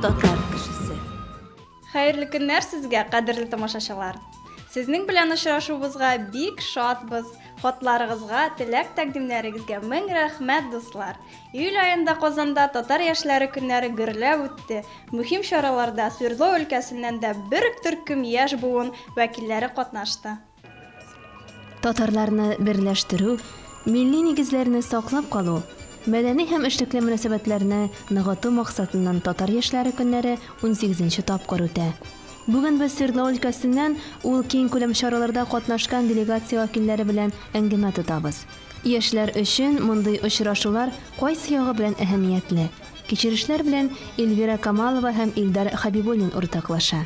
Татар кешесе. Хәерле көннәр сезгә, кадерле тамашачылар! Сезнең белән очрашуыбызга бик шатбыз. Хатларыгызга, теләк тәкъдимнәрегезгә мең рәхмәт, дуслар. Июль аенда Казанда татар яшьләре көннәре гөрләп үтте. Мөһим чараларда Свердлов өлкәсеннән дә бер төркем яшь буын вәкилләре катнашты. Татарларны берләштерү, милли нигезләрне саклап калу, мәдәни һәм эшлекле мөнәсәбәтләрне ныгыту максатыннан Татар яшьләре көннәре 18 тапкыр үтә. Бүген без Свердлов өлкәсеннән ул киң күләм чараларда катнашкан делегация вәкилләре белән әңгәмә тотабыз. Яшьләр өчен мондый очрашулар кайсы ягы белән әһәмиятле? Кичерешләр белән Эльвира Камалова һәм Илдар Хәбибуллин уртаклаша.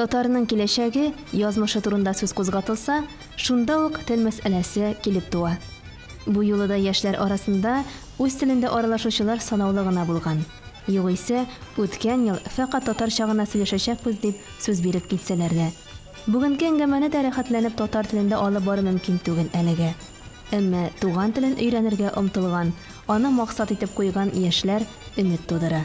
Татарның киләчәге, язмышы турында сүз кузгатылса, шунда ук тел мәсьәләсе килеп туа. Бу юлы да яшьләр арасында үз телендә аралашучылар санаулы гына булган. Югыйсә, үткән ел фәкать татарча гына сөйләшәчәкбез дип сүз биреп китсәләр дә. Бүгенге әңгәмәне дә рәхәтләнеп татар телендә алып бару мөмкин түгел әлегә. Әмма туган телен өйрәнергә омтылган, аны максат итеп куйган яшьләр өмет тудыра.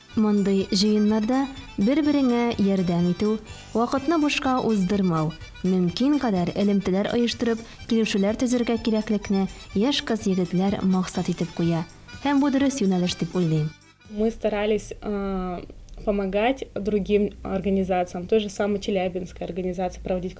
Мондый җыеннарда бер-береңә ярдәм итү, вакытны бушка уздырмау, мөмкин кадәр элемтәләр оештырып, килешүләр төзергә кирәклекне яшь кыз-егетләр максат итеп куя. Һәм бу дөрес юнәлеш дип уйлыйм. Мы старались помогать другим организациям, той же самой Челябинской организации проводить.